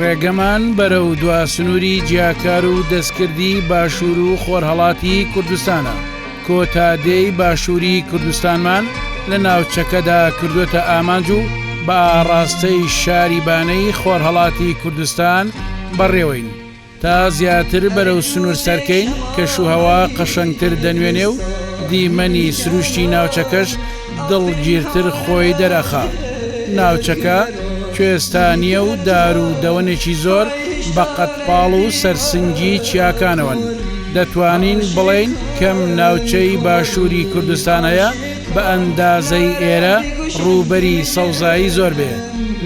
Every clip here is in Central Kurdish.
ڕێگەمان بەرەو دوا سنووری جیاکار و دەستکردی باشوور و خۆرهەڵاتی کوردستانە کۆتا دێی باشووری کوردستانمان لە ناوچەکەدا کردوتە ئامانج و بە ئاڕاستەی شاری بانەی خۆرهەڵاتی کوردستان بەڕێوەین. تا زیاتر بەرەو سنوور سەرکەین، کەشوهەوا قەشەنگتر دەنوێنێ و دیمەنی سرووشتی ناوچەکەش دڵگیرتر خۆی دەرئەخا. ناوچەکە کوێستانییە و دار و دەوەنێکی زۆر بە قەدپاڵ و سەرسنگی چیاکانەوەن. دەتوانین بڵێین کەم ناوچەی باشووری کوردستان هەیە بە ئەندازەی ئێرە ڕووبەری سەوزایی زۆر بێ،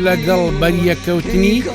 لەگەڵ بەریەککەوتنی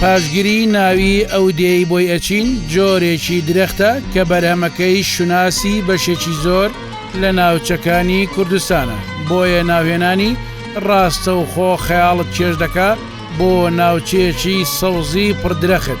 پاشگری ناوی ئەو دێی بۆی ئەچین جۆرێکی درەختە کە بەرهەمەکەی شوناسی بەشێکی زۆر لە ناوچەکانی کوردستانە بۆیە ناوێنانی ڕاستەوخۆ خەیاڵت چێژ دەکا بۆ ناوچەیەکی سەوزی پڕدرەخت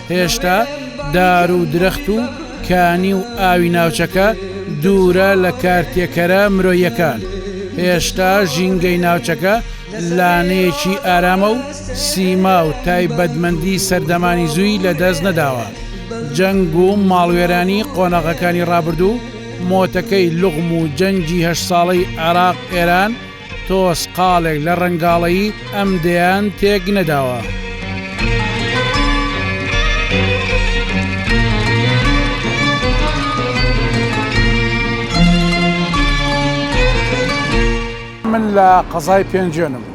هێشتا دار و درەخت و کانی و ئاوی ناوچەکە دوورە لە کارتێکەرە مرۆییەکان، هێشتا ژینگەی ناوچەکە لانەیەکی ئارامە و سیما و تایبەتمەندی سەردەمانی زووی لەدەست نەداوە، جەنگ و ماڵوێرانی قۆناغەکانی ڕابردوو، مۆتەکەی لوغم و جەنگی هەشت ساڵەی عێراق-ئێران، تۆز قاڵێک لە ڕەنگاڵەیی ئەم دەیان تێک نەداوە. من لە قەزای پێنجێنم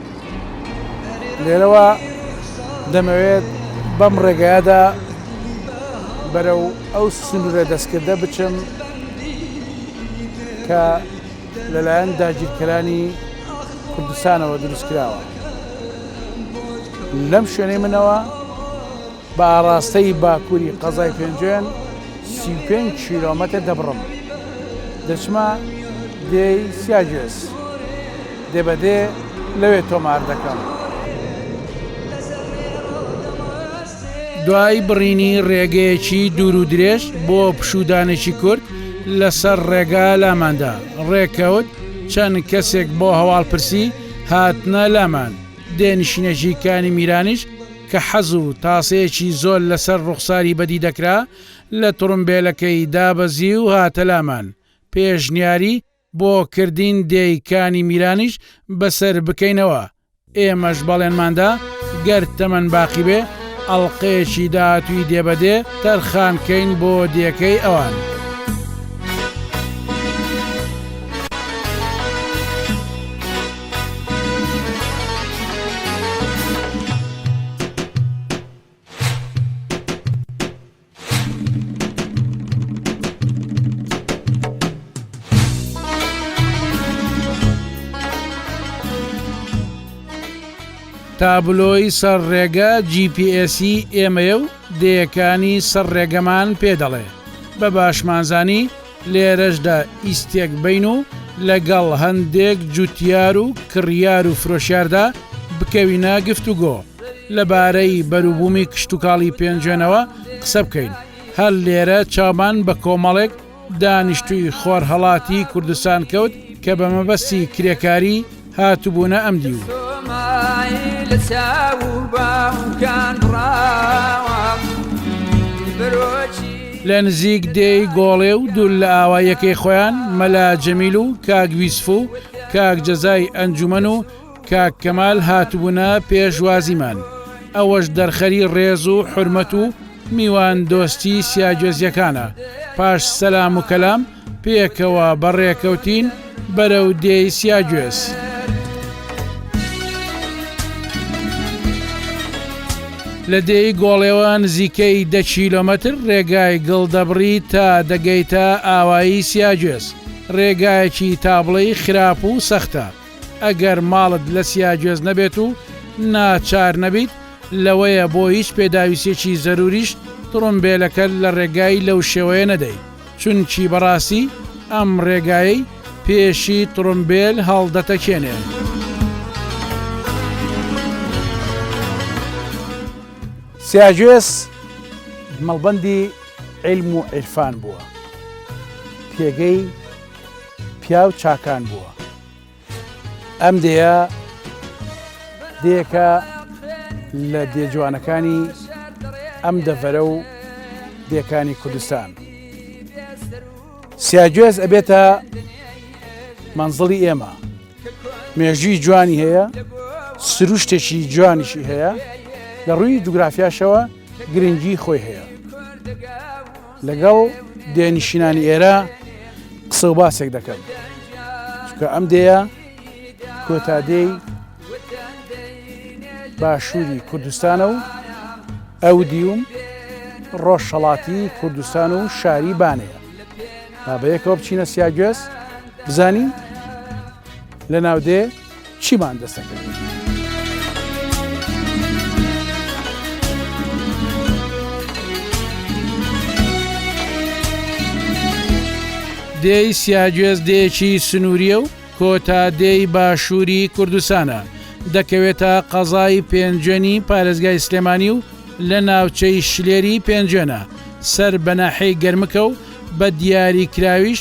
لێرەوە دەمەوێت بەم ڕێگایەدا بەرەو ئەو سنوورە دەستکردە بچم کە لەلایەن داگیرکەرانی کوردستانەوە دروستکراوە لەم شوێنەی منەوە بە ئاراستەی باکووری قەزای پێنجێن سی پێنج کیلۆمەتە دەبڕم دەچمە دێی سیاگوێز دێبەدێ لەوێ تۆمار دەکەم دوای بڕینی ڕێگەیەکی دوور و درێژ بۆ پشودانێکی کورت لەسەر ڕێگا لاماندا ڕێکەوت چەند کەسێک بۆ هەواڵپرسی هاتنە لامان دێنشینەژی کانی میرانیش کە حەز و تاسەیەکی زۆر لەسەر ڕوخساری بەدی دەکرا لە تڕمبێلەکەی دابەزی و هاتە لامان پێشنیاری بۆ کردین دێی کانی میرانیش بەسەر بکەینەوە ئێمەش بەڵێنمان دا گەر تەمەن باقی بێ ئەڵقەیەکی داهاتووی دێ بە دێ تەرخان کەین بۆ دێکەی ئەوان. تابلۆی سەر ڕێگە GPS ئێمەیە و دەیەکانی سەر ڕێگەمان پێ دەڵێ بە باشمانزانی لێرەشدا ئیستێک بین و لەگەڵ هەندێک جوتیار و کڕیار و فرۆشیاردا بکەوینە گفتوگۆ لەبارەی بەروبوومی کشتوکاڵی پێنجوێنەوە قسە بکەین، هەر لێرە چاومان بە کۆمەڵێک دانیشتووی خۆرهەڵاتی کوردستان کەوت کە بە مەبەستی کرێکاری، هاتبونە ئەم دیو. لە نزیک دێی گۆڵێ و دوول لە ئاوا یەکەی خۆیان مەلا جەمیل و کاک ویسف و کاک جەزای ئەنجومەن و کاک کەمال هاتبوونە پێشوازیمان ئەوەش دەرخەری ڕێز و حرمەت و میوان دۆستی سیاجۆزیەکانە پاش سەسلام و کەلام پێکەوە بەڕێکەوتین بەرەو دێی سیاگوێز. لە دێی گۆڵێوە نزیکەی دە کیلۆمەتر ڕێگای گڵ دەبڕی تا دەگەیتە ئاوایی سیاگوێز، ڕێگایەکی تابڵێی خراپ و سەختە، ئەگەر ماڵت لە سیاگوێز نەبێت و ناچار نەبیت لەوەیە بۆ هیچ پێداویستێکی زەروریشت تڕومبێلەکەت لە ڕێگای لەو شێوەیە نەدەی. چونکی بەڕاستی ئەم ڕێگایەی پێشی تڕومبێل هەڵدەتەکێنێ. سیاجوێس مەڵبەندی عیلم و عیرفان بووە، پێگەی پیاو چاکان بووە. ئەم دێیە دێکە لە دێجوانەکانی ئەم دەڤەرە و دێکانی کوردستان سیاگوێز ئەبێتە منزڵی ئێمە مێژووی جوانی هەیە سروشتێکی جوانیشی هەیە لە ڕووی جوگرافیاشەوە گرنگی خۆی هەیە لەگەڵ دێ نشینانی ئێرە قسە و باسێک دەکەن کە ئەم دێە کۆتادێی باشووری کوردستانە و ئەو دیوم ڕۆژهڵاتی کوردستان و شاری بانەیە بابەیەکەوە بچینە سیاگوێز بزانین لە ناودێ چیمان دەست ئەکرد؟ دێی سیاگوێز دێکی سنووریە و کۆتا دێی باشووری کوردستانە دەکەوێتە قەزای پێنجێنی پارێزگای سلێمانی و لە ناوچەی شلێری پێنجێنە سەر بەناحەی گەرمکە و بە دیاری کراویش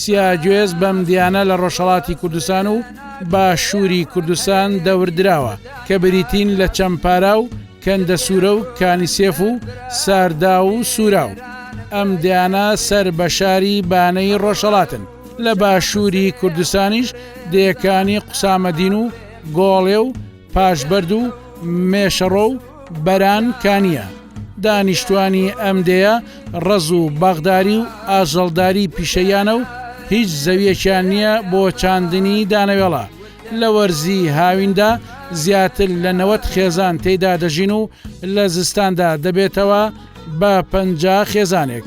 سیاگوێز بەم دیانە لە ڕۆژهەڵاتی کوردستان و باشووری کوردستان دەوردراوە کە بریتین لە چەمپارا و کەندە سوورە و کانیسێف و ساردا و سوورا و ئەم دیانە سەر بە شاری بانەی ڕۆژهڵاتن لە باشووری کوردستانیش دێکانی قوسامەدین و گۆڵێ و پاش بەرد و مێشەڕۆ و بەران کانییە. دانیشتوانی ئەم دێیە ڕەز و باخداری و ئاژەڵداری پیشەییانە و هیچ زەویەکیان نییە بۆ چاندنی دانەوێڵە. لە وەرزی هاویندا زیاتر لە نەوەد خێزان تێیدا دەژین و لە زستاندا دەبێتەوە بە پەنجا خێزانێک.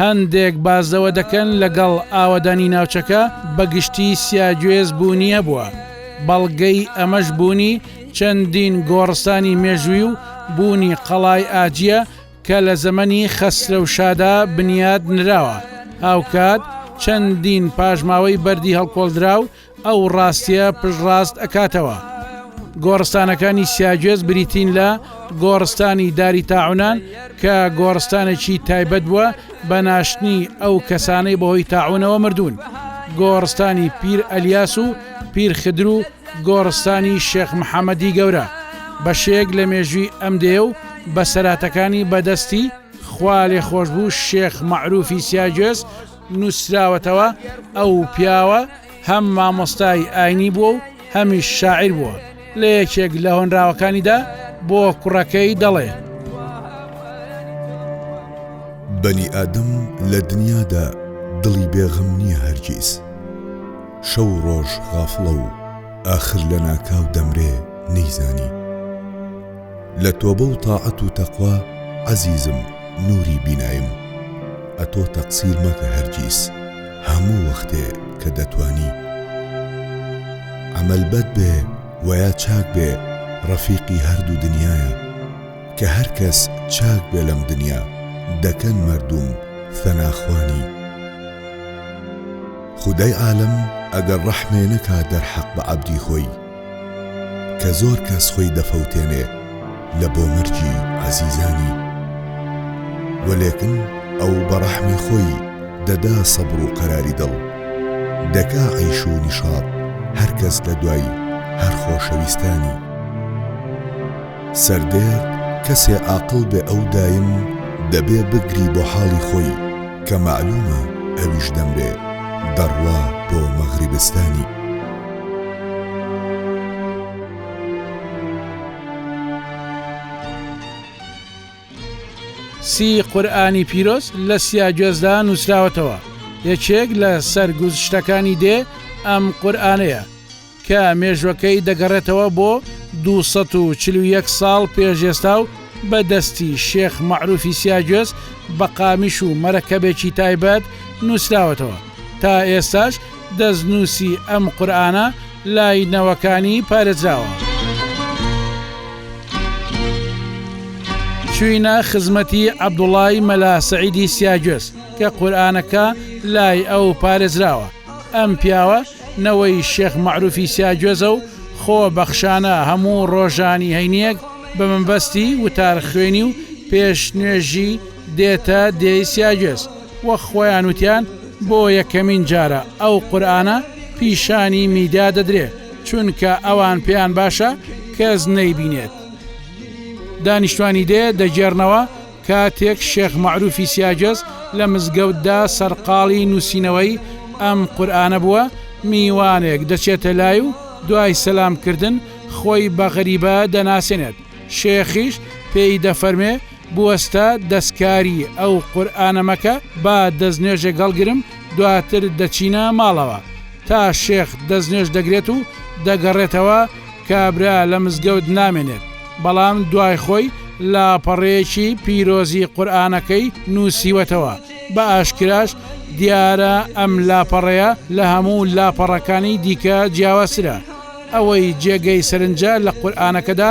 هەندێک باس لەوە دەکەن لەگەڵ ئاوەدانی ناوچەکە بە گشتی سیاگوێز بوونی هەبووە، بەڵگەی ئەمەش بوونی چەندین گۆڕستانی مێژووی و بوونی قەڵای ئاجیە کە لە زەمەنی خەسرەوشادا بنیات نراوە، هاوکات چەندین پاشماوەی بەردی هەڵکۆڵدراو ئەو ڕاستیە پشت ڕاست ئەکاتەوە. گۆڕستانەکانی سیاگوێز بریتین لە گۆڕستانی داری تاعونان کە گۆڕستانێکی تایبەت بووە بە ناشتنی ئەو کەسانەی بەهۆی تاعونەوە مردوون، گۆڕستانی پیر ئەلیاس و پیر خدر و گۆڕستانی شێخ محەمەدی گەورە بەشێک لە مێژووی ئەم دێ و بەسەراتەکانی بەدەستی خوالێخۆشبوو شێخ مەعروفی سیاگوێز نووسراوەتەوە ئەو پیاوە هەم مامۆستای ئاینی بووە و هەمیش شاعیر بووە لە یەکێک لە هۆنراوەکانیدا بۆ کوڕەکەی دەڵێ بەنی ئادەم لە دنیادا دڵی بێغم نییە هەرگیز شەو ڕۆژ غافڵە و ئاخر لە ناکاو دەمرێ نەیزانی لە تۆبە و تاعەت و تەقوا عەزیزم نوری بینایم ئەتۆ تەقسیر مەکە هەرگیز هەموو وەختێ کە دەتوانی عەمەل بەد بێ وەیا چاک بێ ڕەفیقی هەردوو دنیایە کە هەر کەس چاک بێ لەم دنیا دەکەن مەردووم ثەنا خوانی خودای عالەم ئەگەر ڕەحمێ نەکا دەرحەق بە عەبدی خۆی. کە زۆر کەس خۆی دەفەوتێنێ لە بۆ مەرگی عەزیزانی وە لێکن ئەو بە ڕەحمی خۆی دەدا سەبر و قەراری دڵ دەکا عیش و نیشاط هەر کەس لە دوای هەر خۆشەویستانی سەردێرد کەسێ عاقڵ بێ ئەو دایم دەبێ بگری بۆ حاڵی خۆی کە مەعلومە ئەویش دەمرێ دەڕوا بۆ مەغریبستانی. سی قورئانی پیرۆز لە سیا گوێزدا نووسراوەتەوە یەکێک لە سەرگوزشتەکانی دێ ئەم قورئانەیە کە مێژوەکەی دەگەڕێتەوە بۆ 241 ساڵ پێشێستا و بە دەستی شێخ مەعروفی سیاگوێز بە قامیش و مەرەکەبێکی تایبەت نووسراوەتەوە تا ئێستاش دەستنووسی ئەم قورئانە لای نەوەکانی پارێزراوە. چووینە خزمەتی عەبدوڵای مەلا سەعیدی سیاگوێز کە قورئانەکە لای ئەو پارێزراوە. ئەم پیاوە نەوەی شێخ مەعروفی سیاگوێزە و خۆ بەخشانە هەموو ڕۆژانی هەینییەک بە مەبەستی وتارخوێنی و پێش نوێژی دێتە دێی سیاگوێز. وە خۆیان وتیان بۆ یەکەمین جارە ئەو قورئانە پیشانی میدیا دەدرێ چونکە ئەوان پێیان باشە کەس نەیبینێت دانیشتوانی دێ دەگێرنەوە کاتێک شێخ مەعروفی سیاجەز لە مزگەوتدا سەرقاڵی نووسینەوەی ئەم قورئانە بووە میوانێک دەچێتە لای و دوای سەلام کردن خۆی بە غەریبە دەناسێنێت شێخیش پێی دەفەرمێ بوەستە دەستکاری ئەو قورئانە مەکە با دەستنوێژێک هەڵگرم دواتر دەچینە ماڵەوە تا شێخ دەستنوێژ دەگرێت و دەگەڕێتەوە کابرا لە مزگەوت نامێنێت بەڵام دوای خۆی لاپەڕەیەکی پیرۆزی قورئانەکەی نوسیوەتەوە بە ئاشکراش دیارە ئەم لاپەڕەیە لە هەموو لاپەڕەکانی دیکە جیاوازترە ئەوەی جێگەی سەرنجە لە قورئانەکەدا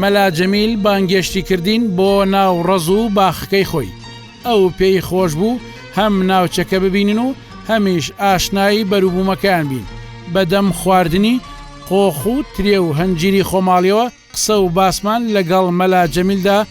مەلا جەمیل بانگێشتی کردین بۆ ناو ڕەز و باخەکەی خۆی. ئەو پێی خۆش بوو هەم ناوچەکە ببینن و هەمیش ئاشنای بەروبوومەکەیان بین. بە دەم خواردنی قۆخ و ترێ و هەنجیری خۆماڵیەوە قسە و باسمان لە گەڵ مەلا جەمیلدا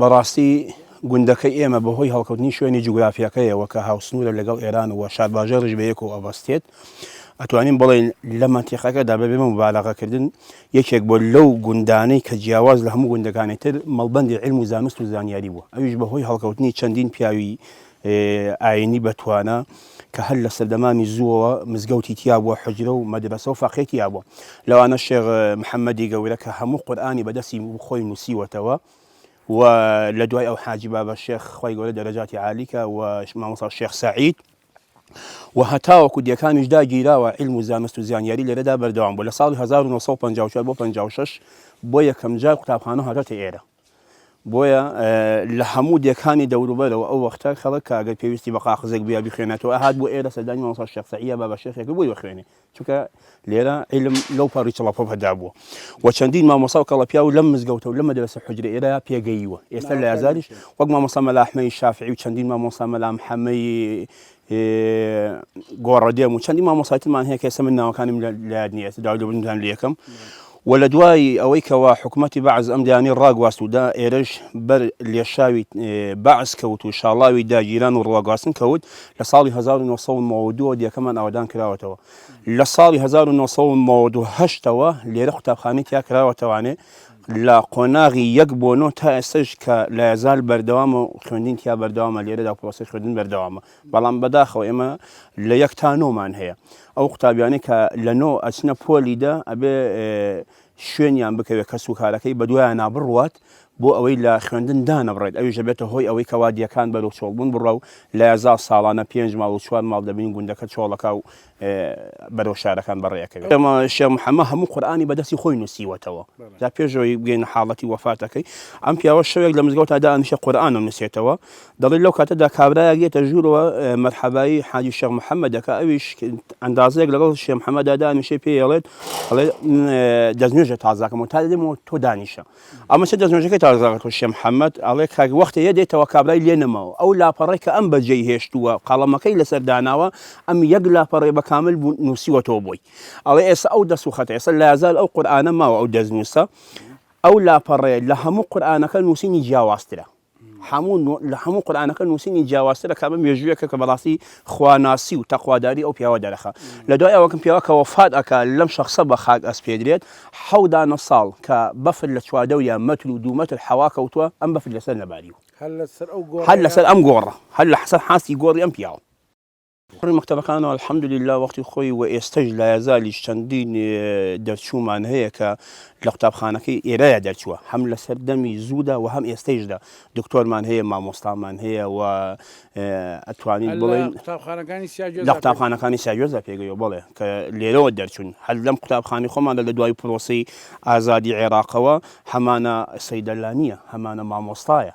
بەڕاستی گوندەکەی ئێمە بەهۆی هەڵکەوتنی شوێنی جوگرافیەکەیەوە کە هاوسنوورە لەگەڵ ئێران و شارباژێ ڕژ بەیەک و ئەبەستێت ئەتوانین بڵێن لە مەتیقەکەدا بە بێمە مبالغەکردن یەکێک بۆ لەو گوندانەی کە جیاواز لە هەموو گوندەکانی تر مەڵبندی علم و زانست و زانیاری بووە ئەویش بەهۆی هەڵکەوتنی چەندین پیاوی ئاینی بەتوانا کە هەر لە سەردەمانی زووەوە مزگەوتی تیا بووە حجرە و مەدرەسە و فەقێ تیا بووە لەوانە شێخ محەممەدی گەورە کە هەموو قورئانی بەدەستی خۆی نووسیوەتەوە و لە دوای ئەو حاجی بابە شێخ خی گەورە دەرەجاتی عالیکە و مامۆسا شێخ سعید و هەتاوەکو دەکانیش داگیراوە علم و زانست و زانیاری لێرەدا بەردەوام بوو لە ساڵی 1954 بۆ 56 بۆ یەکەم جار قوتابخانە هاتۆتە ئێرە بۆیە لە هەموو دێکانی دەوروبەرەوە ئەو وەختە خەڵک کە ئەگەر پێویستی بە قاقزێک بوویا بیخوێنێتەوە ئەهات بۆ ئێرە سەردانی مامۆستا شێخ سەعیە بابا شێخێک بۆی بخوێنێ چونکە لێرە عیلم لەو پەڕی چڵەپەپەدا بووە و چەندین مامۆستا و کەڵەپیا و لەم مزگەوتە و لە مەدرسە حجرە ئێرە پێگەیوە ئێستا لە یازاریش وەک مامۆستا مەلا ئەحمەدی شافعی و چەندین مامۆستا مەلا محەمەدی گۆڕە دێم و چەندی مامۆساتمان هەیە کەسە من ناوەکانیم لایاد نیە داودەبنتان لەکەم و لە دوای ئەوەی کەوا حکوومەتتی بەعز ئەم دانی ڕاگواست ودا ئێرەش بەر لێشاوی بەعس کەوت و شاڵاوی داگیران و ڕواگواستن کەوت لە ساڵی 1992 دیەکەمان ئاوادان کراوەتەوە لە ساڵی 1992ەوە لێرە قوتابخانەی تیا کراوەتەوانێ لە قۆناغی یەک بۆ نۆ تا ئێستەش کە لایەزال بەردەوامە و خوێندین تیا بەردەوامە لێرەدا پرۆسەی خوێندن بەردەوامە بەڵام بەداخەوە ئێمە لە یەک تا نۆمان هەیە ئەو قوتابیانەی کە لە نۆ ئەچنە پۆلی دە ئەبێ شوێنیان بکەوێت کەس و کارەکەی بەدوایان نابڕوات بۆ ئەوەی لە خوێندن دانەبڕێت ئەوی ژەبێتە هۆی ئەوەی کەوا دیەکان بەرەو چۆڵبوون بڕە و لایەزا ساڵانە پێنج ماڵ و چوار ماڵ دەبین گوندەکە چۆڵەکە و بەرەو شارەکان بەڕێ ئەکەوێت. ئێمە شێخ محەممەد هەموو قورئانی بە دەستی خۆی نووسیوەتەوە. جا پێش ئەوەی بگەینە حاڵەتی وەفاتەکەی، ئەم پیاوە شەوێک لە مزگەوتا دائەنیشێ قورئان ئەنووسێتەوە. دەڵێ لەو کاتەدا کابرایەک دێتە ژوورەوە مەرحەبای حاجی شێخ محەممەد دەکا، ئەویش ئەندازەیەک لەگەڵ شێخ محەممەددا دانیشێ پێی ئەڵێت ئەڵێ دەستنوێژە تازاکەمەوە تا دێمەوە تۆ دانیشە. ئەمە چ دەستنوێژەکەی تازە ڕکوشە محەممەد ئەڵێ کاک وەختێ یەدێتەوە کابرای لێ نەماوە ئەو لاپەڕەی کە ئەم بەجێی هێشتووە قەڵەمەکەی لەسەر داناوە ئەم یەک لاپەڕێ بە کامل بوو نووسیوەتەوە بۆی ئەڵێ ئێستا ئەو دەست و خەتە ئێستا لازال ئەو قورآانە ماوە ئەو دەستنووسە ئەو لاپەڕێ لە هەموو قورآانەکە نووسینی جیاوازترە هەموو نوع لە هەموو قورئانەکە نووسینی جیاوازتر دەکات بە مێژوویەکە کە بەڕاستی خواناسی و تەقواداری ئەو پیاوە دەرەخا لە دوای ئەوەکم پیاوە کە وەفات ئەکا لەم شەخسە بە خاک ئەسپێدرێت حەو دانە ساڵ کە بەفر لە چواردەوریان مەتر و دوو مەتر حەوا کەوتووە ئەم بەفر لەسەر نەباریوە هەر لەسەر ئەم گۆڕە هەر لەسەر حاستی گۆڕی ئەم پیاوە. کوڕی مەکتەبەکانە الحمدللە وەختی خۆی و ئێستەش لایەزالیش چەندین دەرچوومان هەیە کە لە قوتابخانەکەی ئێرایە دەرچووە هەم لەسەر دەمی زوودا و هەم ئێستەیشدا دکتۆرمان هەیە مامۆستامان هەیە و ئەتوانین بڵێن لە قوتابخانەکانی ساگوێزدا پێگەیەوە بڵێ کە لێرەوە دەرچوون هەر لەم قوتابخانی خۆمان لە دوای پرۆسی ئازادی عێراقەوە هەمانە سەیدەلانیە هەمانە مامۆستایە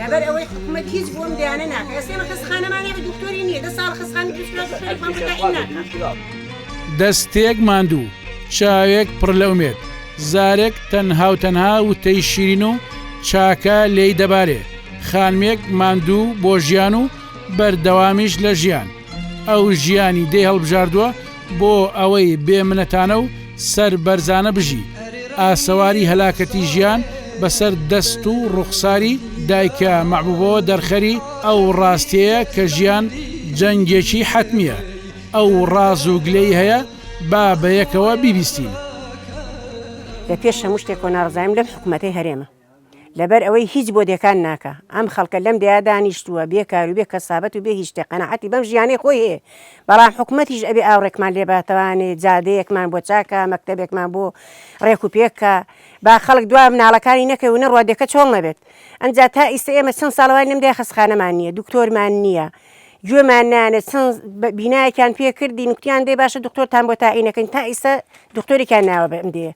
لەبەر ئەوەی حکومەت هیچ بۆ ئەم دەیانە ناکا ئێستا ئێمە خەستخانەمان هەیە دکتۆری نییە دە ساڵە خەستخانە دروست کرا دکتۆری خۆیان بۆ تەعین ناکا. دەستێک ماندوو، چاوێک پڕ لە ئومێد، زارێک تەنها و تەنها وتەی شیرین و چاکە لێی دەبارێ، خانمێک ماندوو بۆ ژیان و بەردەوامیش لە ژیان، ئەو ژیانی دێی هەڵبژاردووە، بۆ ئەوەی بێ منەتانە و سەر بەرزانە بژی. ئاسەواری هەلاکەتی ژیان بە سەر دەست و ڕوخساری دایکە مەحبوبەوە دەرخەری ئەو ڕاستیەیە کە ژیان جەنگێکی حەتمیە. ئەو ڕاز و گلەی هەیە با بەیەکەوە بیبیستین. لە پێش هەموو شتێکەوە ناڕەزایم لەم حکومەتەی هەرێمە. لەبەر ئەوەی هیچ بۆ دێکان ناکا. ئەم خەڵکە لەم دێیا دانیشتووە، بێ کار و بێ کەسابەت و بێ هیچ شتێ قەناعەتی بەم ژیانەی خۆی هەیە. بەڵام حکومەتیش ئەبێ ئاوڕێکمان لێ با توانێ جادەیەکمان بۆ چاک کا، مەکتەبێکمان بۆ ڕێک و پێک کا. با خەڵک دوا مناڵەکانی نەکەوێ و نەڕوا دێکە چۆڵ نەبێت. ئەنجا تا ئیستە ئێمە چەن ساڵە واین لەم دێیا خەستخانەمان نییە، دوکتۆرمان نییە. گوێمان نانێ چەن بینایەکیان پێ کردین، گوتیان دەی باشە دوکتۆرتان بۆ تاعینەکەین، تا ئیستە دوکتۆرێکیان ناوە بە ئەم دێیە.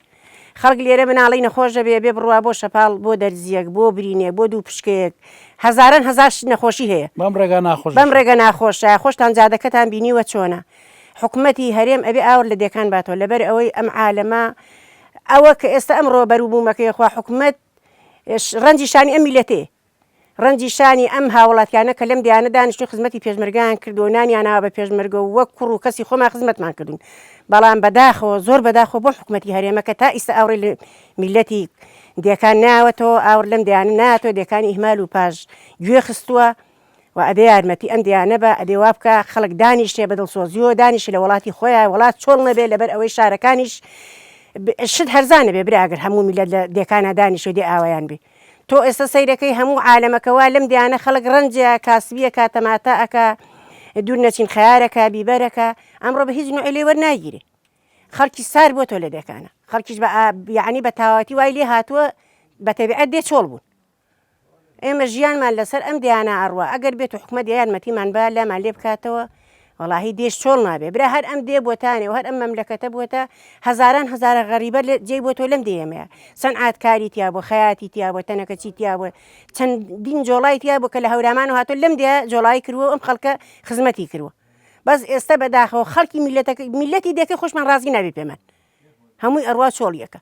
خەڵک لێرە مناڵی نەخۆش دەبێ بێ بڕوا بۆ شەپاڵ، بۆ دەرزییەک، بۆ برینێک، بۆ دوو پشکەیەک، هەزاران هەزار شت نەخۆشی هەیە. بەم ڕێگا ناخۆش دەشێ. بەم ڕێگە ناخۆشە، خۆشتان جادەکەتان بینیوە چۆنە. حکومەتی هەرێم ئەبێ ئاوڕ لە دێکان باتەوە لەبەر ئەوەی ئەم عالەمە ئەوە کە ئێستا ئەمڕۆ بەروبوومەکەی خوا حکومەت ڕەنجی شانی ئەم میلەتەیە. ڕەنجی شانی ئەم هاوڵاتیانە کە لەم دەیانە دانیشتون خزمەتی پێشمەرگەیان کردوە و نانیان ناوە بە پێشمەرگە و وەک کوڕ و کەسی خۆمان خزمەتمان کردون بەڵام بە داخەوە زۆر بە داخەوە بۆ حکومەتی هەرێمە کە تا ئیستە ئاوڕی لە میلەتی دێکان ناوەتەوە ئاوڕ لەم دەیانە ناتۆ دێکان ئیهمال و پاش گوێ خستوە و ئەبێ یارمەتی ئەم دەیانە بە ئەبێ وابکە خەڵک دانیشێ بە دڵسۆزیەوە دانیشی لە وڵاتی خۆیان وڵات چۆڵ نەبێ لەبەر ئەوەی شارەکانیش شت هەرزانە بێ برا گەر هەموو میلەت لە دێکانە دانیشێ دێ ئاوەیان بێ. تۆ ئێستا سەیرەکەی هەموو عالەمەکە وا لەم دێیانە خەڵک ڕەنجە کاسبیەکا تەماتە ئەکا دوور نەچین خەیارەکە بیبەرەکە ئەمڕۆ بە هیچ نوعی لێ وەرناگیرێ خەڵکی سار بۆ تۆ لە دێکانە خەڵکیش بە یعنی بە تاواتی وای لێ هاتووە بە تەبیعەت دێ چۆڵ بوون ئێمە ژیانمان لەسەر ئەم دیانە ئەڕوا ئەگەر بێت و حکومەت یان مەتیمان با لامان لێ بکاتەوە وەڵاهی دێش چۆڵ نابێ برا هەر ئەم دێ بۆتانێ و هەر ئەم مەملەکەتە بووەتە هەزاران هەزارە غەریبە لە جێی بۆ تۆ لەم دێمەیە سەنعات کاری تیا بۆ خەیاتی تیا بۆ تەنەکە چی تیا بۆ چەندین جۆڵای تیا بۆ کە لە هەورامان و هاتۆ لەم دێ جۆڵایی کردووە ئەم خەڵکە خزمەتی کردووە بەس ئێستا بەداخەوە خەڵکی میلەتەکە میلەتی دێکە خۆشمان ڕازی نابێ پێمان هەمووی ئەڕوا چۆڵیەکە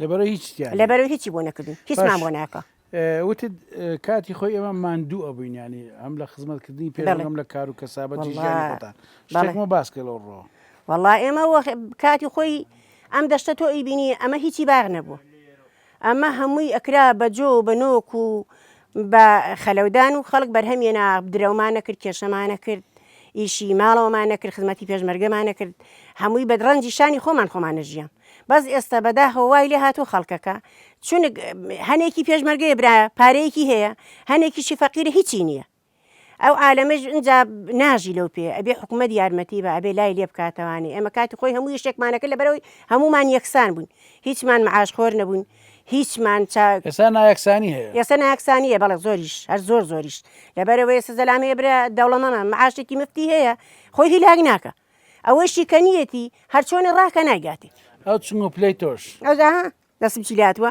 لەبەرەوەی هیچ تیان لەبەرەوەی هیچی بۆ نەکردوین هیچمان بۆ ناکە وتت کاتی خۆی ئێمە ماندوو ئەبووین ینی ئەم لە خزمەتکردنی پێڵم لە کار و کەسابەت شتێکمە باسکە لەو ڕۆ وەڵا ئێمە کاتی خۆی ئەم دەشتە تۆ ئەی بینی ئەمە هیچی باغ نەبوو ئەمە هەمووی ئەکرا بە جۆ بە نۆک و بە خەلەودان و خەڵک بەرهەمێنا، درەومان نەکرد، کێشەمان نەکرد، ئیشی ماڵەوەمان نەکرد، خزمەتی پێشمەرگەمان نەکرد، هەمووی بە ڕەنجی شانی خۆمان خۆمان نەژیام، بەس ئێستا بەداخەوە وای لێ هاتووە خەڵکەکە چونک هەنێکی پێشمەرگەیە برا پارەیەکی هەیە، هەنێکیشی فەقیرە هیچی نییە، ئەو عالەمەش ئنجا ناژی لەو پێ ئەبێ حکومەت یارمەتی بە ئەبێ لای لێ بکاتەوانی ئێمە کاتی خۆی هەموو یشتێکمانەکە لە بەرەوەی هەمومان یەکسان بووین هیچمان معاش خۆر نەبوون هیچمان چاک ئێستا نایەکسانی هەیە ئێستا ناکسانیە بەڵێ زۆریش هەر زۆر زۆریش لەبەرەوە ئێستا زەلام هەیە برا دەوڵەمەمە معاشێکی مفتی هەیە خۆی هیلاک ناکە ئەوەشی کە نیەتی هەرچۆنی ڕاکە نایگاتی ئەو چنگ و پلەی تۆش ئەوزا دەسم چی لاتوە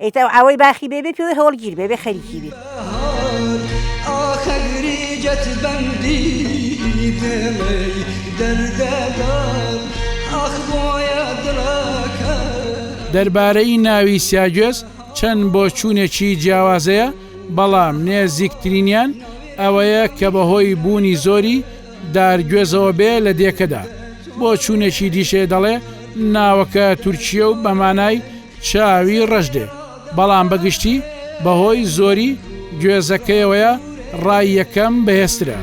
ئیتر ئەو ئاوەی باخی بێ بێ پێوەی هەوڵگیر بێ بێ خەریکی بێ. دەربارەی ناوی سیاگوێز چەند بۆچوونێکی جیاوازەیە بەڵام نێزیکترینیان ئەوەیە کە بەهۆی بوونی زۆری دارگوێزەوە بێ لە دێکەدا، بۆچوونێکی دیشێ دەڵێ ناوەکە تورکییە و بە مانای، چاوی ڕەش دێ بەڵام بە گشتی بە هۆی زۆری گوێزەکەیەوەیە ڕای یەکەم بەهێزترە.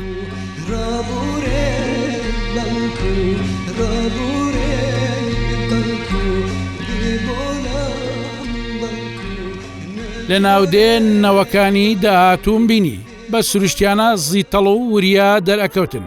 لە ناودێ نەوەکانی داهاتووم بینی بە سروشتیانە زیتەڵ و وریا دەرئەکەوتن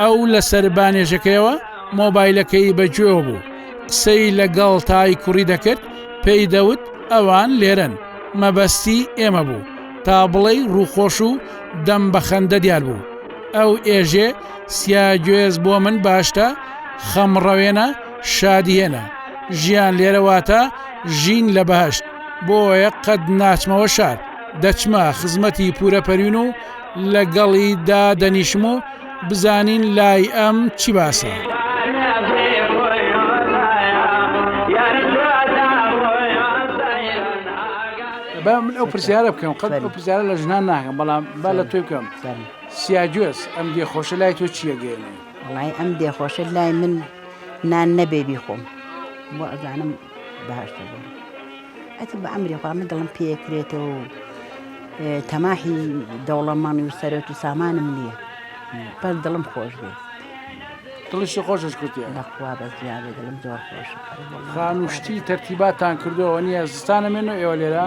ئەو لە سەر بانێژەکەیەوە مۆبایلەکەی بە گوێوە بوو قسەی لە گەڵ تای کوڕی دەکرد پێی دەوت ئەوان لێرەن مەبەستی ئێمە بوو تا بڵێی ڕووخۆش و دەم بە خەندە دیار بوو ئەو ئێژێ سیا گوێز بۆ من باشتە خەمڕەوێنە شادی هێنا ژیان لێرە واتە ژین لە بەهەشت بۆیە قەت ناچمەوە شار دەچمە خزمەتی پورە پەریون و لە گەڵی دا دەنیشم و بزانین لای ئەم چی باسە. با من ئەو پرسیارە بکەم قەت ئەو پرسیارە لە ژنان ناکەم بەڵام با لە توی بکەم سیاگوێز ئەم دێ خۆشە لای تۆ چیە گەێنێ وڵی ئەم دێ خۆشە لای من نان نەبێ بیخۆم بۆ ئەزانم باشتر بووم ئەچ بە ئەمری خوا من دڵم پێکرێتەوە و تەماحی دەوڵەمەڕنی و سەرۆت و سامانم نییە پەر دڵم خۆش بێ دڵیشی خۆشش کوتی لەخوا بە زیادە دڵم زۆر خۆش خانوشتی تەرتیباتان کردەوە نییە زستانە مێن و ئێوە لێرە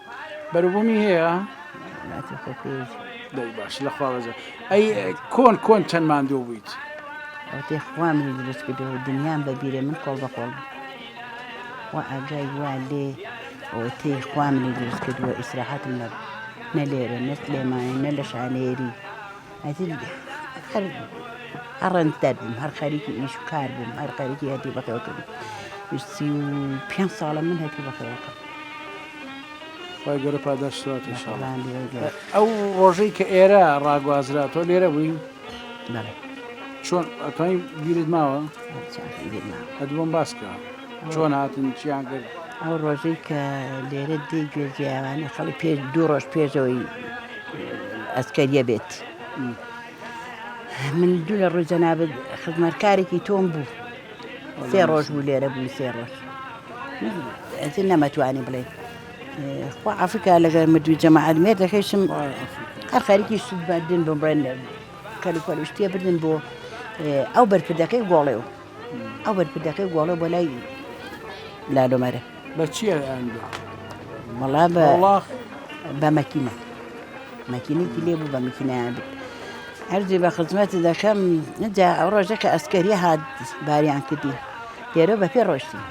بەروبوومی هەیە لاتی خۆ کوێیت. دەی باش لە خوا بەزە ئەی کۆن کۆن چەند ماندوو بوویت. ئەوتێ خوا منی دروست کردو دنیام بە بیرێ من کۆڵ بە کۆڵ بووم و ئاگای وا لێ ئەوتێ خوا منی دروست کردووە ئیسراحەتم نەبوو نە لێرە نە سلێمانی نە لە شانێری. هەتیو هەر هەر ڕەنجدەر بووم هەر خەریکی ئیش و کار بووم هەر خەریکی هەتیو بەخێو کردم سی و پێنج ساڵە من هەتیو بەخێو کەم خی گەورە پاداش سوات ان شاء الله. بەخێوان لێوە گەر ئەو ڕۆژەی کە ئێرە ڕاگوازرا تۆ لێرە بووی بەڵێ چۆن ئەتوانی بیرت ماوە چاکم بیر ماوە ئەدبۆم باسکە چۆن هاتن چیان کرد؟ ئەو ڕۆژەی کە لێرە دێی گوێ جیاوانە خەڵی پێ دوو ڕۆژ پێشەوەی ئەسکەریە بێت من دوو لە ڕووی جەنابەت خزمەتکارێکی تۆم بوو سێ ڕۆژ بوو لێرە بووی سێ ڕۆژ ئەجی نەمەتوانی بڵێ خوا ئافریکا لەگەر مردوی جەماعات مێر دەکەیشم هەر خەریکی سوودبدن بم بڵێن کەلوپەلوشتێ بردن بۆ ئەو بەرپدەکەی گۆڵێ و ئەو بەرپردەکەی گۆڵێ بۆ لای لالۆ مەرە بە چیە ئەندوە وەڵا بە وڵاخ بە مەکینە مەکینێکی لێ بوو بە مەکینیان بێت هەرزی بە خزمەت دەکەم نجا ئەو ڕۆژە کە ئەسکەری هات باریان کردی لێرە بە پێ ڕۆشتی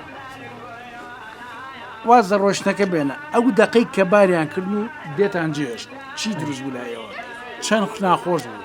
واز لە ڕۆشتنەکە بێنە ئەو دەقەی کە باریان کرد و دێتان جێشت چی دروست بوو لایەوە چەند ناخۆش بوو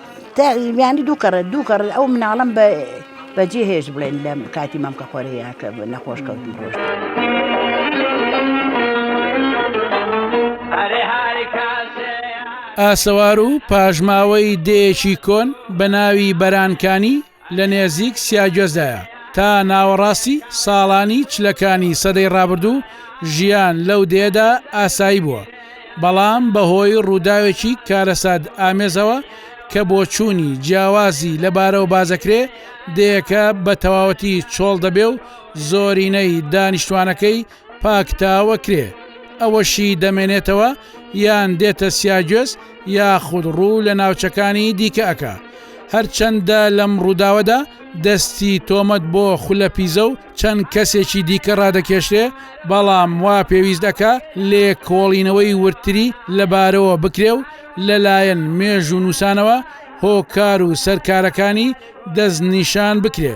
تا یانی دوو کەڕێت دوو کەڕ ئەو مناڵم بە بەجێ هێش بڵێن لە کاتی مەم کە خۆرەیە کە نەخۆش کەوتم ڕۆژ. ئاسەوار و پاشماوەی دێیەکی کۆن بە ناوی بەرانکانی لە نێزیک سیاگوێزدایە. تا ناوەڕاستی ساڵانی چلەکانی سەدەی ڕابردوو ژیان لەو دێیەدا ئاسایی بووە، بەڵام بەهۆی ڕووداوێکی کارەسات ئامێزەوە کە بۆچوونی جیاوازی لەبارەوە باسدەکرێ، دێیەکە بە تەواوەتی چۆڵ دەبێ و زۆرینەی دانیشتوانەکەی پاکتاوە کرێ، ئەوەشی دەمێنێتەوە یان دێتە سیاگوێز یاخود ڕوو لە ناوچەکانی دیکە ئەکا. هەرچەندە لەم ڕووداوەدا دەستی تۆمەت بۆ خولە پیزە و چەند کەسێکی دیکە ڕادەکێشرێ، بەڵام وا پێویست ئەکا لێکۆڵینەوەی وردتری لەبارەوە بکرێ و لەلایەن مێژوونووسانەوە هۆکار و سەرکارەکانی دەستنیشان بکرێ.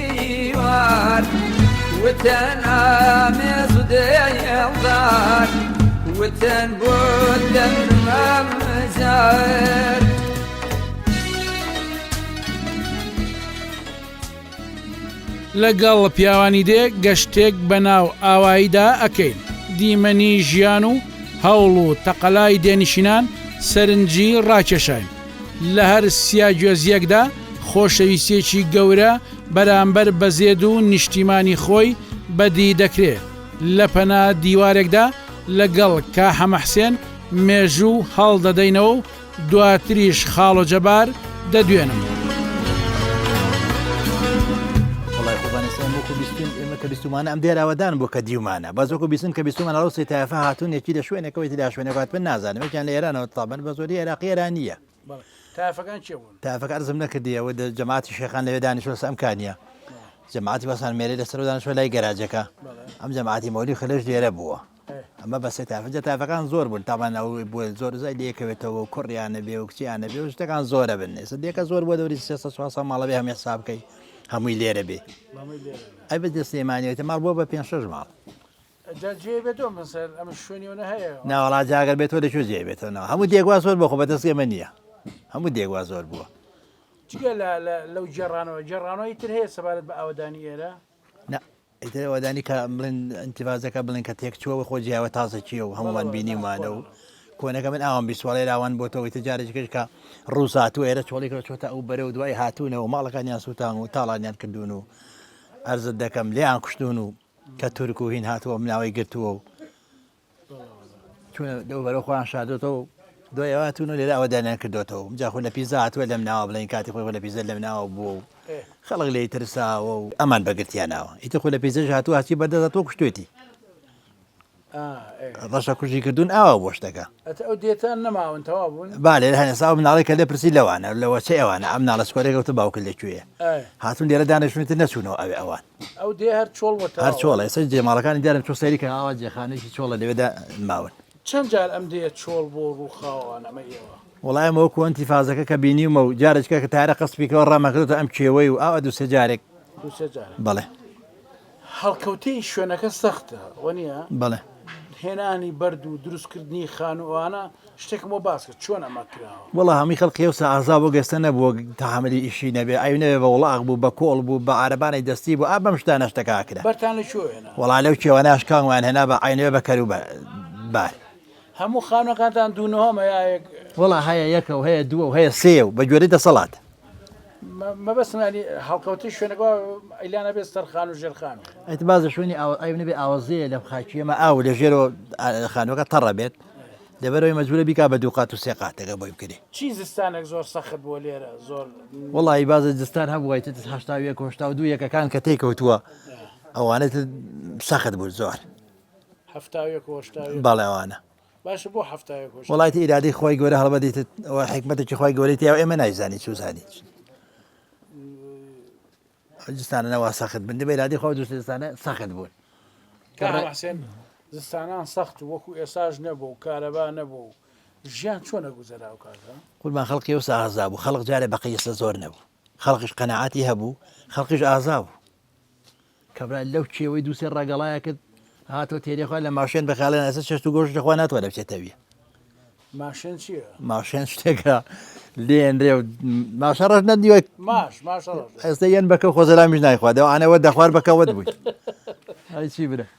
لەگەڵ پیاوانی دێ گەشتێک بە ناو ئاواییدا ئەکەین دیمەنی ژیان و هەوڵ و تەقەلای دێنشینان سەرنجی ڕاکێشاین لە هەر سیا گوێزییەکدا خۆشەویستییەکی گەورە بەرامبەر بە زێد و نیشتیمانی خۆی بەدی دەکرێ. لە پەنا دیوارێکدا لەگەڵ کا حەمە حسێن مێژوو هەڵدەدەینەوە و دواتریش خاڵۆ جەبار دەدوێنم. کە بیستمانە ئەم دێراوەدان بۆ کە دیومانە بەزۆک و بیستن کە بیستمانە ڕوسی تایفە هاتون یەکی لە شوێنەکەەوەی دا شوێنەکات پێ نازانم یان لە ئێرانەوە تابە بە زۆری عێراقی ئێرانی نییە. تایفەکان چێ بوون تایفەکە ئەرزم نەکردی ئەوە جەماعتی شێخان لەوێ دانیشتوە لەسەر ئەم کانیە جەماعتی بەسان مێرێ لەسەر دانیشتوە لای گەراجەکە ئەم جەماعتی مەولی خلش لێرە بووە ئەمە بەسێ تافجە تافەکان زۆر بوون تامان ئەو بۆ زۆر زای لەکەوێتەوە و کوڕیانە بێ و کچیانە بێ و شتەکان زۆرە بن نێسە دێکە زۆر بۆ دەوری سێ سواسە ماڵەبێ هەم حساب بکەی هەمووی لێرە بێ ئەی بە دەستێمانەوێتە ماڵ بۆ بە پێ شش ماڵ جا جێ بێتەوە من سەر ئەم شوێنی ئەوە هەیە ناوەڵا جاگەر بێتەوە لە کوێ جێ بێتەوە ناو هەموو دێگوا زۆر بۆ خۆ بەدەست ئێمە نییە هەموو دێگوا زۆر بووە جگە لەو جێڕانەوە جێڕانەوەی تر هەیە سەبارەت بە ئاوەدانی ئێرە ئەوەدانی کە بڵێن ئەتیڤازەکە بڵێن کە تێک چووەوە خۆ جیاوە تازە چیە و هەمووان بینیمانە و کۆنەکە من ئاوام بیسوڵێ راوان بۆتەوەی تجارێکش کە ڕووسات و ئێرە چۆڵێکەوە چۆتە ئەو بەرە و دوای هاتوونەوە ماڵەکانیان سووتان و تاڵانیان کردوون و ئەرزت دەکەم لێیان کوشتون و کە تورک و هین هاتووە ملاوەی گرتووە و چوونە دەو بەرەو خۆیان شادۆتەوە دوای ئەوە هاتوون و لێرە ئەوە دانیان کردوێتەوە جا خۆ لە پیزا هاتووە لەم ناوە بڵێن کاتی خۆی خۆ لە پیزە لەم ناوە بووە و خەڵک لێی ترساوە و ئەمان بەگرتیانناوە ئیتە خۆ لە پیزەش هاتووە هەچی بەردەدا تۆ کوشتێتی ڕەشە کوژی کردوون ئاوا بۆش دەکە با لێرە هەنێسا ئەو مناڵی کە لێ پرسی لەوانە لەوە چ ئەوانە ئەم ناڵە سکۆرێک گەوتە باوکە لەکوێ هاتون لێرە دانیشتونێتە نەچوونەوە ئەوێ ئەوان هەر چۆڵە ئێستا جێماڵەکانی دیارم چۆ سەیری کە ئاوا جێخانێکی چۆڵە لەوێدا ماون چەند جار ئەم دێ چۆڵ بۆ ڕووخاوان ئەمە ئێوە وڵایم وەکو ئەنتی فازەکە کە بینیمە و جارێکە کە تارە قەسپیکەوە ڕامەکردەوە ئەم کێوەی و ئاوا دوسێ جارێک بەڵێ هەڵکەوتەی شوێنەکە سەختە وە نیە؟ بەڵێ. هێنانی بەرد و دروست کردنی خانو ئەوانە شتێکم بۆ باسکە چۆن ئەمە کراوە. وەڵا هەمووی خەڵقی ئەوسا ئازا بوو گەستە نەبوو تەحەملی ئیشی نەبێ ئەوی نەبێ بە وڵاخ بوو بە کۆڵ بوو بە عارەبانەی دەستی بوو ئا بەم شتانە شتەکە ئەکرا. بەرتان لە کوێوە هێنا؟ وەڵا لەو کێوانە شکانگمان هێنا بە عەینەوێ بە کەرو بار. هەموو خانوەکانتان دوو نهۆم هەیە ئایەک؟ وەڵا هەیە یەکە و هەیە دووە و هەیە سێ و بە گوێرەی دەسەڵات مەبەستمانی هەڵکەوتی شوێنەکە ئەیلانە بێت سەرخان و ژێرخان ئەیت بازە شوێنی ئەوێ ئاوازەیە لەم خاکیەمە ئاو لە ژێرەوە خانوەکە تەڕە بێت دەبەرەوەی مەجبورە بیکا بە دوو قات و سێ قاتەکە بۆی بکرێ چی زستانێک زۆر سەخت بۆ لێرە زۆر وڵی بازە زستان هەبووی هشتا هشتا و دوو یەکەکان کە تێکەوتووە ئەوانێت سەخت بوو زۆر بەڵێ ئەوانە وڵاتی ئیرادەی خۆی گەورە هەڵبەدیت ئەوە حکمەتێکی خۆی گەورەی تیا ئێمە نایزانی چوزانیت جستانە نەوا سەخت بن دەبێ لادی خۆ دوستستانە سەخت بوون کاڕحسێن زستانان سەخت وەکو ئێساش نەبوو و کارەبا نەبوو ژیان چۆنە گوزەرا و کاتە قوربان خەڵکی و سازا بوو خەڵک جارێ بەقیسە زۆر نەبوو خەڵکیش قەنەعاتی هەبوو خەڵکیش ئازا بوو کابرا لەو کێوەی دوو سێ ڕەگەڵایە کرد هاتەوە تێرێ خوا لە ماشێن بەخاڵێن ئەسە چێشت و گۆشت لەخوا ناتوانێت بچێتەویە ماشێن چیە ماشێن شتێکە لێنرێ ماشە ڕژ نەدیوە ماش ئێستا یەن بەکە خۆزەلامیش نایخوادەوە ئەوانەوە دەخوار بەکەوت بووی چی برە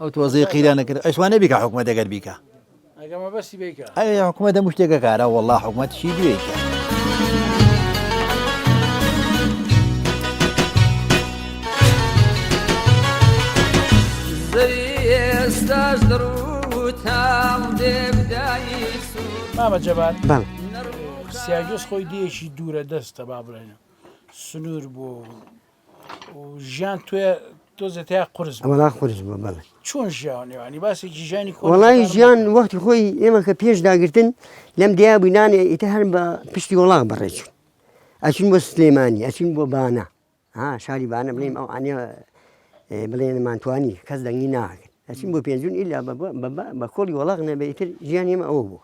ئەو تۆزی قیرانە کرد ئەش وانە بیکە حکومە دەگەر بیکە ئەێ حکومە دەم شتێکە کارە وەڵا حکومەت شی دوێکە. ئێستاش دڕوتام دێبدایی مامە جەبار بەڵ سیاگەس خۆی دێکی دوورە دەستە با بڵێنە سنوور بۆ ژیان توێ تۆزێ تیا قرس بوو. وەڵا قورس بوو بەڵێ چۆن ژیاوە نێوانی باسی جیژانی کۆن وەڵای خەتار ژیان مەکە. وەختی خۆی ئێمە کە پێش داگرتن لەم دیا بووی نانێ ئیتە هەر بە پشتی وڵاغ بەڕێچوون ئەچین بۆ سلێمانی ئەچین بۆ بانە ها شاری بانە بڵێم ئەو ئەانێ بڵێنمانتوانی کەس دەنگی ناکرد ئەچین بۆ پێنجون ئیلا بە- بە- بە- بە- بە کۆڵی وەڵاغ نەبێ ئیتر ژیان ئێمە ئەوە بوو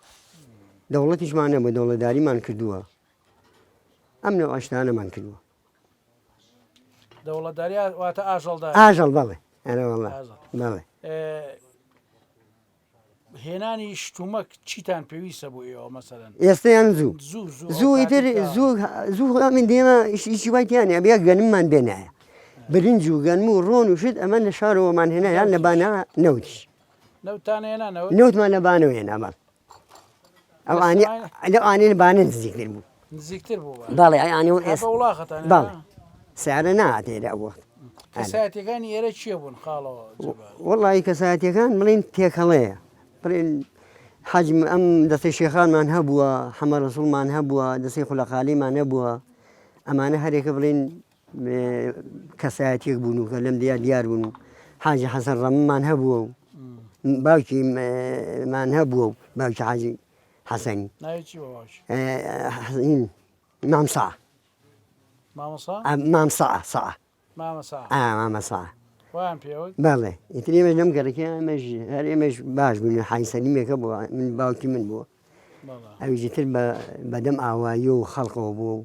دەوڵەتیشمان نەبوو دەوڵەداریمان کردووە ئەم نەوەشتانەمان کردووە دەوڵەتداری واتە ئاژەڵداری ئاژەڵ بەڵێ ئەرە وەڵا بەڵێ هێنانی شتومەک چیتان پێویستە بۆ ئێوە مەسەرەن ئێستیان زوو زوو ئیتر زوو زوو من دێمە ئیشی وایتیان ئەبێ گەنممان بێنایە برنج و گەنم و ڕۆن و شت ئەمە لە شارەوەمان هێنایان لە بانە نەوتیش نەوتمان لە بانەوە هێنامان ئەوانی لەو ئانێن بانە نزیکتر بوو نزیکتر بوو باڵێ ئەیانی و ئێستا وڵاخەتان باڵ سارە ناتێرە ئەو وەخت کەساتەکانی ئێرە چیە بوون خاڵەوە وڵی کەساتەکان بڵین تێکەڵەیە بڵێن حەجم ئەم دەستی شێخانمان هەبووە حەمە ڕسوڵمان هەبووە دەستی خولەقالیمان نەبووە ئەمانە هەرێکە بڵین کەسایەتیەک بوون و کە لەم دیا دیار بوون و حاجی حەسەن ڕەممان هەبووە و باوکی مان هەبووە و باوکی حاجی حەسەنی مامسا مامسا سا مامەسا بەڵێ ئیتر ئێمەش لەم گەڕەکە ئەمەش هەر ئێمەش باش بوون حای سەلیمێکە بووە من باوکی من بووە ئەویتر بەدەم ئاوایی و خەڵقەوە بووە و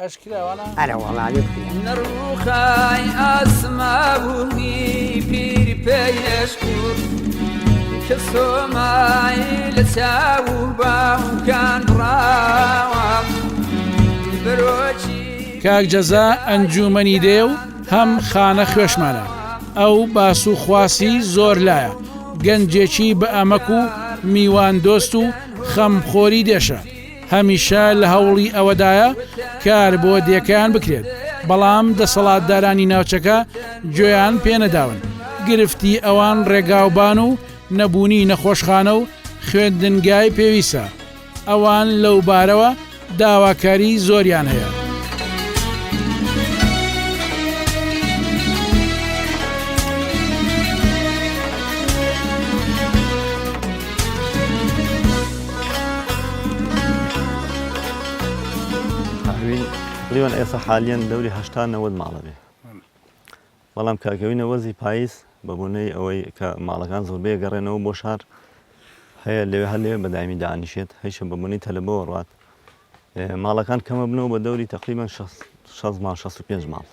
ئەشکراوانە ئەرەوەڵاێ بکرێ. نڕوخای ئاسماونی پیر پێشکور کە سۆمای لە چاو و باوکان ڕاوە برۆکی کاک جەزا ئەنجومەنی دێ و هەم خانە خوێشمانە ئەو باس و خواسی زۆر لایە گەنجێکی بە ئەمەک و میوان دۆست و خەمخۆری دێشە هەمیشە لە هەوڵی ئەوەدایە کار بۆ دێکەیان بکرێت، بەڵام دەسەڵاتدارانی ناوچەکە گوێیان پێنەداون، گرفتی ئەوان ڕێگاوبان و نەبوونی نەخۆشخانە و خوێندنگای پێویستە، ئەوان لەو بارەوە داواکاری زۆریان هەیە. لیۆن ئێستا حالیەن دەوری هەشتا نەوەد ماڵە بێ بەڵام کاکەوینە وەزی پاییز بە بۆنەی ئەوەی کە ماڵەکان زۆر بێگەڕێنەوە بۆ شار هەیە لەوێ هەر لێ بەدایمی دانیشێت هەیشە بە بۆنی تەلەبەوە ڕات ماڵەکان کەمە بنەوە بە دەوری تقریبان 6 ماڵ 65 ماڵ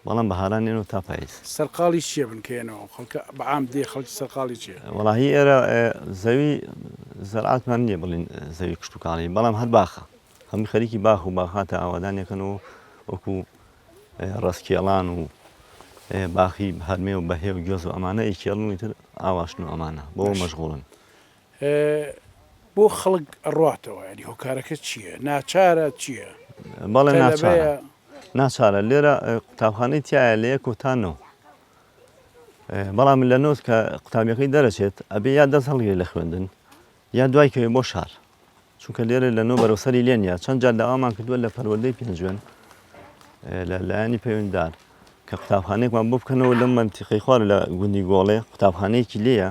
بەڵام بەهاران یەنەوە تا پایز. سەرقاڵی چیە بنکە یەنەوە خەڵکە بە عام دێ خەڵکی سەرقاڵی چیە. وەڵا هی ئێرە زەوی زەرعاتمان نیە بڵین زەوی کشت و کاڵی بەڵام هەر باخە هەموو خەریکی باخ و باخاتە ئاوادان یەکەن و وەکو ڕەسکێڵان و باخی هەرمێ و بەهێ و گوێز و ئەمانە ئیکێڵن و ئیتر ئاواشن و ئەمانە بۆ مەشغوڵن بۆ خەڵک ئەڕاتەوە ینی هۆکارەکە چییە ناچارە چییە؟ بەڵێ ناچارە ناچارە لێرە قوتابخانەی تایە لە یەک و تا نەوە بەڵام لە نۆت کە قوتابیەکەی دەرەچێت ئەبێ یا دەست هەڵگری لە خوێندن یا دوای کەوێ بۆ شار چونکە لێرە لە نۆ بەرەسەری لێن یا چەند جار داوامان کردووە لە پەروەدەی پێنجوێن لە لایەنی پەیوەنددار کە قوتابخانێکمان بۆ بکەنەوە لەم منتیقی خوار لە گوندی گۆڵێ قوتابخانەیەکی لێە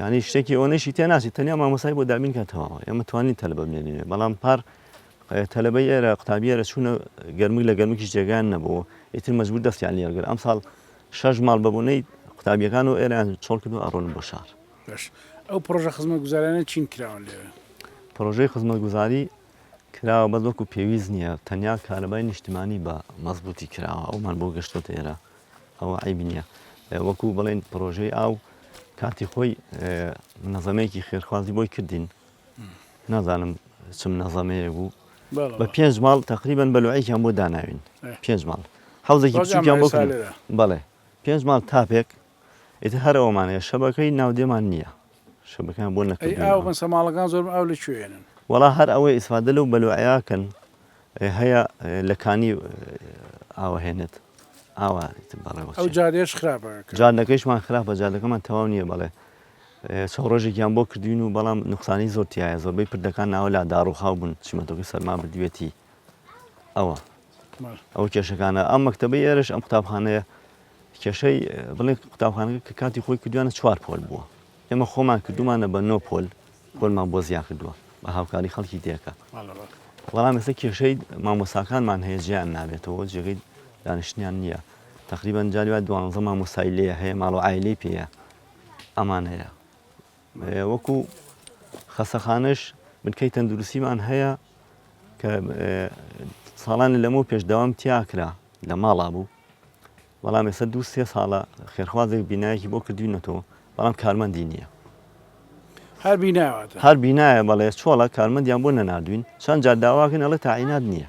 یانی شتێکی ئەوەنەشی تێ ناچی تەنیا مامۆسای بۆ دابین کە تەواوە ئێمە توانین تەلبە بێنێ بەڵام پار تەلبەی ئێرە قوتابی ئێرە چوونە گەرمک لە گەرمکیش جێگان نەبوو ئیتر مەجبور دەستیان لێرگر ئەم ساڵ شەش ماڵ بەبوونەی قوتابیەکان و ئێران چۆڵ کرد و ئەڕۆن بۆ شار ئەو پرۆژە خزمە گوزارانە چین کراون لێ پرۆژەی خزمە گوزاری کراوە بەس وەکو پێویست نییە تەنیا کارەبای نیشتمانی بە مەزبوتی کراوە ئەومان بۆ گەشتۆتە ئێرە ئەوە عەیب نییە وەکو بڵێن پرۆژەی ئاو کاتی خۆی منەزەمەیەکی خێرخوازی بۆی کردین نازانم چ منەزەمەیە بوو بە پێنج ماڵ تقریبان بەلوعێکیان بۆ داناوین پێنج ماڵ حوزێکی بچوکیان بۆ بڵێ پێنج ماڵ تاپێک ئیتر هەرەوەمانەیە شەبەکەی ناودێمان نییە شەبەکان بۆ نەکردین ئەی ئاو بەسە ماڵەکان زۆر ئاو لە کوێنن وەڵا هەر ئەوەی ئیسفادە لەو بەلوعیاکەن هەیە لە کانی ئاوە هێنێت ئاوا بەڵێ ئەو جارێش خراپە جادەکەیشمان خراپە جادەکەمان تەواو نییە بەڵێ سە ڕۆژێکیان بۆ کردوین و بەڵام نقصانی زۆرتیایە زۆربەی پردەکان ناوە لا داڕوخاو بوون چیمەتۆکی سەرما بدوێتی ئەوە ئەو کێشەکانە ئەم مەکتتەبی ئێرش ئەم قوتابخانەیە کێشەی بڵێ قوتابخانەکە کە کاتی خۆی کردوانە چوار پۆل بووە ئێمە خۆمان کردومانە بە نۆ پۆل پۆلمان بۆ زیان کردووە بە هاوکاری خەڵکی تێکە بەڵام ئێستا کێشەی مامۆساکانمان هەیە جیان نابێتەوە جێگەی دانیشتیان نییە تقریبان جاریوا دوانزە مامۆسای لێ هەیە ماڵۆ ئایلی پێەیە ئەمان هەیە وەکو خەسەخانەش بنکەی تەندروستیمان هەیە کە ساڵانی لەمەو پێش داوام تیاکرا لە ماڵا بوو بەڵام ێستا دوو سێ ساڵە خێرخوازێک بینایەکی بۆ کردوینەتەوە بەڵام کارمەندی نییە هەر بینایە بەڵێ چۆڵە کارمەندیان بۆ نەناردوین چەند جار داواکەن ئەڵێ تاعینات نییە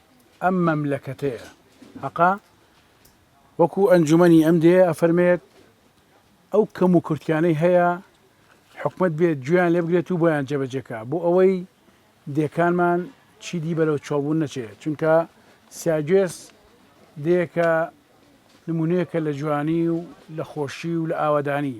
ئەم مەملەکەتەیە هەقە وەکو ئەنجومەنی ئەم دێ ئەفەرمێت ئەو کەم و کورتیانەی هەیە حکومت بێت گوێیان لێ بگرێت و بۆیان جێبەجێکە بۆ ئەوەی دێکانمان چیدی بەرەو چاوبوون نەچێت چونکە سیاگوێس دێکە نمونونەیەکە لە جوانی و لە خۆشی و لە ئاوادانی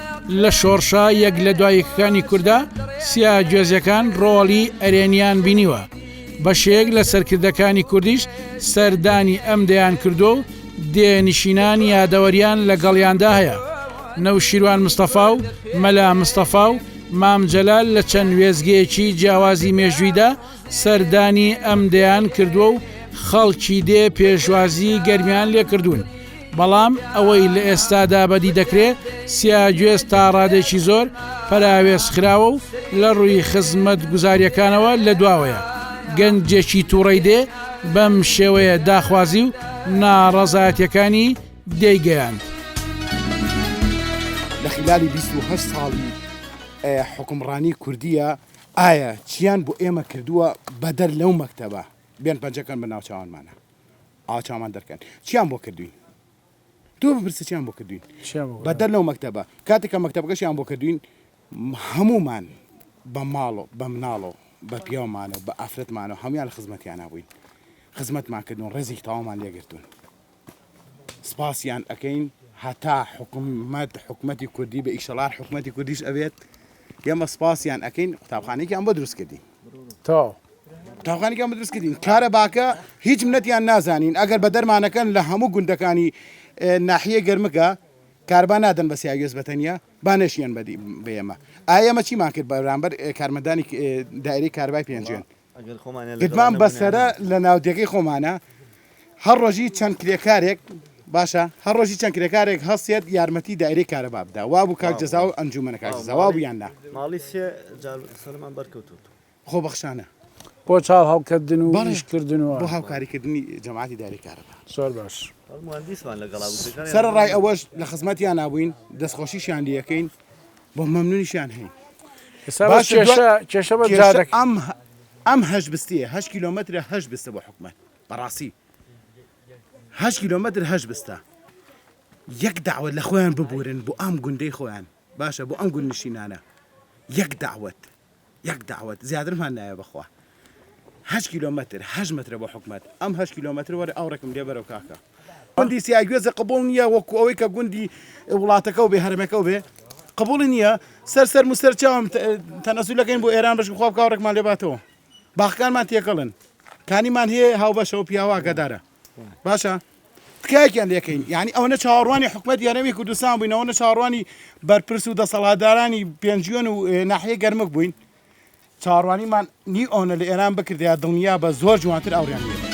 لە شۆڕشە یەک لە دوا یەکەکانی کوردە سیا گوێزەکان ڕۆڵی ئەرێنیان بینیوە بەشێک لە سەرکردەکانی کوردیش سەردانی ئەم دەیان کردو و دێ نشینان یادەوەریان لەگەڵیاندا هەیە نەوشیروان مستەفا و مەلا مستەفا و مام جەلال لە چەند وێزگەیەکی جیاوازی مێژوویدا سەردانی ئەم دەیان کردووە و خەڵکی دێ پێشوازی گەرمیان لێکردوون، بەڵام ئەوەی لە ئێستادا بەدی دەکرێ سیاگوێز تا ڕادەیەکی زۆر پەراوێزخراوە و لە ڕووی خزمەتگوزارییەکانەوە لە دواوەیە. گەنجێکی توڕەی دێ بەم شێوەیە داخوازی و ناڕەزایەتییەکانی دێی گەیاند. لە خیلالی بیست و هەشت ساڵی حوکمڕانی کوردییە ئایا چیان بۆ ئێمە کردووە بەدەر لەو مەکتەبە؟ بێن پەنجە کەن بە ناوچاوانمانا ئاوا چاومان دەرکەن چیان بۆ کردوین؟ تۆ بپرسە چیان بۆ کردوین بەدەر لەو مەکتەبە کاتێک کە مەکتەبەکەشیان بۆ کردوین هەمومان بە ماڵۆ بە مناڵۆ بە پیاومانەوە بە ئافرەتمانەوە هەموان لە خزمەتیان نبووین خزمەتمان کردوون ڕێزی تاوامان لێگرتوون سپاسیان ئەکەین هەتا حکومەت حکومەتی کوردی بە ئیشەڵار حکومەتی کوردیش ئەبێت ئێمە سپاسیان ئەکەین قوتابخانێکیان بۆ دروست کردین تا قوتابخانێکیان بە دروست کردین کارە باکە هیچ منەتیان نازانین ئەگەر بە دەرمانەکەن لە هەموو گوندەکانی ناحیە گەرمەکە کاربا نادەن بە سیاوێز بەتەنیا با نەشیان بەدی بێمە ئایەمە چیمان کرد بەرامبەر کارمەدانی دایری کاربای پێنجێن گدمان بە سەرە لە ناودێگەی خۆمانە هەر ڕۆژی چەند کرێکارێک باشە هەر ڕۆژی چەند کرێکارێک هەستێت یارمەتی دایرەی کارەبا بدا وا بوو کاک جەزا و ئەنجومەنە کاک جەزا وا بوویان نا ماڵی سێ جار سەرمان بەرکەوتووە خۆ بەخشانە بۆ چاو هەڵکردن و بەڵێ. ئیشکردن و بۆ هاوکاریکردنی جەماعەتی دایرەی کارەبا زۆر باش مهندسمان لەگەڵا بوو کرێکاریان سەرەڕای ئەوەش لە خزمەتیانا بووین دەستخۆشیشیان لێ ئەکەین. بۆ مەمنونیشیان هەین باشە کێشە بە جادەک ئەم ئەم هەش بستیە هە کیلومترە هەش بستە بۆ حکومت بەڕاستی هە کیلومتر هەش بستە یەک داوت لە خۆیان ببورن بۆ ئەم گوندەی خۆیان باشە بۆ ئەم گوندنشینانە یەک داوت یەک دەعوەت زیاترمان نایە بەخوا هەشت کیلۆ مەتر هەشت مەترە بۆ حکومەت ئەم هەشت کیلۆ مەتر وەرە ئاوڕێکم لێ بەرەو کاکە گوندی سیاگوێزە قبول نییە وەکو ئەوەی کە گوندی وڵاتەکە و بێ هەرمەکە و بێ قبولی نییە سەر سەر موسەر چاوم تەنەسوولەکەین بۆ ئێران بەش بخوا بکە ڕێکمان لێ باتەوە باخکانمان تێکەڵن کانیمان هەیە هاوبەشەوە پیاواگەدارە باشە تکایەکیان لێکەین یعنی ئەوەنە چاوەڕوانی حکومەت یارەوی کوردستان بووین ئەوەنە چاوەڕوانی بەرپرس و دەسەڵاتدارانی پێنجوێن و ناحیە گەرمک بووین چاڕوانیمان نی ئەوەنە لە ئێران بکردیا دڵنیا بە زۆر جوانتر ئەوریان لێ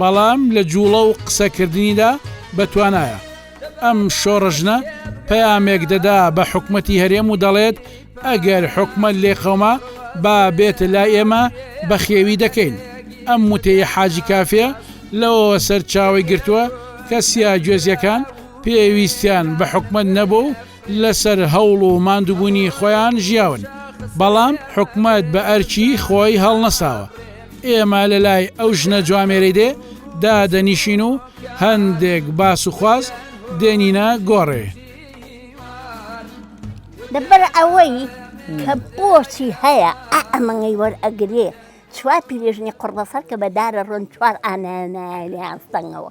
بەڵام لە جوڵە و قسەکردنیدا بە توانایە. ئەم شۆڕژنە پەیامێک دەدا بە حکومەتی هەرێم و دەڵێت ئەگەر حکومەت لێقەوما با بێت لای ئێمە بە خێوی دەکەین. ئەم وتەی حاجی کافێ لەوەوە سەرچاوەی گرتووە کە سیاگوێزیەکان پێویستیان بە حکومەت نەبووە و لەسەر هەوڵ و ماندوبونی خۆیان ژیاون بەڵام حکومەت بە ئەرکی خۆی هەڵنەساوە ئێمە لەلای ئەو ژنە جوامێرەی دێ دادەنیشین و هەندێک باس و خواز دێنینە گۆڕێ. لەبەر ئەوەی کە بۆچی هەیە ئەمەنگەی وەرئەگرێ چوار پیرێژنی قڕبەسەر کە بەدارە ڕۆن چوار ئانایانایان سەنگەوە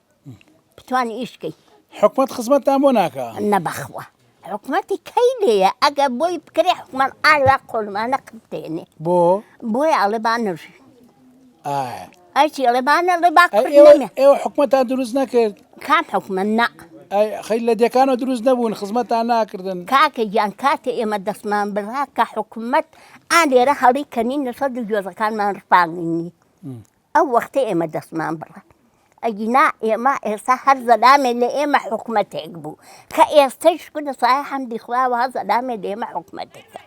بتوانی ئیش کەی حکومەت خزمەتتان بۆ ناکا نەبەخوا حکومەتی کەی لێە ئەگە بۆی بکرێ حکومەت ئالا قۆلمانە قبتێنێ بۆ بۆی ئاڵێ با نژی ئەچی ئەڵێ بانە ڵێ با ئێوە حکومەتە دروست نەکرد کام حکومە نا خەی لە دەکانەوە دروست نەبوون خزمەتان ناکردن کاکە گیان کاتێ ئێمە دەستمان بڕا کە حکومت ئالێرە هەڵی کەنی نەسە دوو گوێزەکانمان ڕپاننی ئەو وەختە ئێمە دەستمان بڕە ئەگینا ئێمە ئێستا هەر زەلامێ لە ئێمە حکوومەتێک بوو کە ئێستش کونە سای حەمدی خواوە زەلامێ لە ئێمە حکوومەتێکە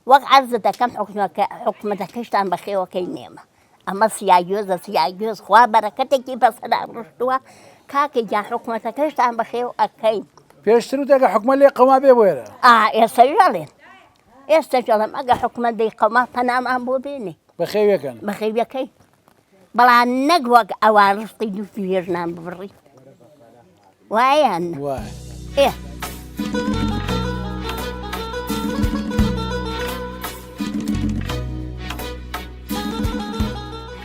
وەک عرض دەکەم حکومەکە حکوومەتەکەشتان بەخێوەکەی نێمە ئەمە سیاگوێزە سیاگوێز خوا بەرەکەتێکی بەسەدا ڕشتووە کاکە گیان حکوومەتەکەشتان بەخێو ئەەکەین پێشتر و دەگە حکومە لێ قەما بێ بۆێرە ئا ئێستا ژەڵێن ئێستەش ئەڵێم ئەگە حکومەت دەی قەوما پەنامان بۆ بێنێ بەخێویەکەن بەخێویەکەی بەڵام نەک وەک ئەوان ڕستی دوو ژنان ببڕی وایان ئێ.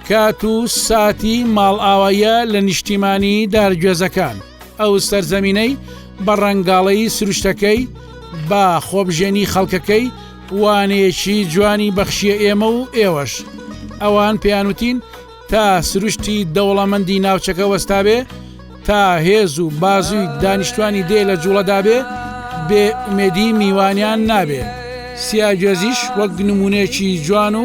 کات و ساتی ماڵئاواییە لە نیشتیمانی دارگوێزەکان. ئەو سەرزەمینەی بە ڕەنگاڵەیی سروشتەکەی، با خۆبژێنی خەڵکەکەی وانەیەکی جوانی بەخشیە ئێمە و ئێوەش. ئەوان پێیان وتین، تا سروشتی دەوڵەمەندی ناوچەکە وەستابێ، تا هێز و بازوی دانیشتوانی دێ لە جوڵەدابێ، بێ ئومێدی میوانیان نابێ. سیاگوێزیش وەک نمونەیەکی جوان و.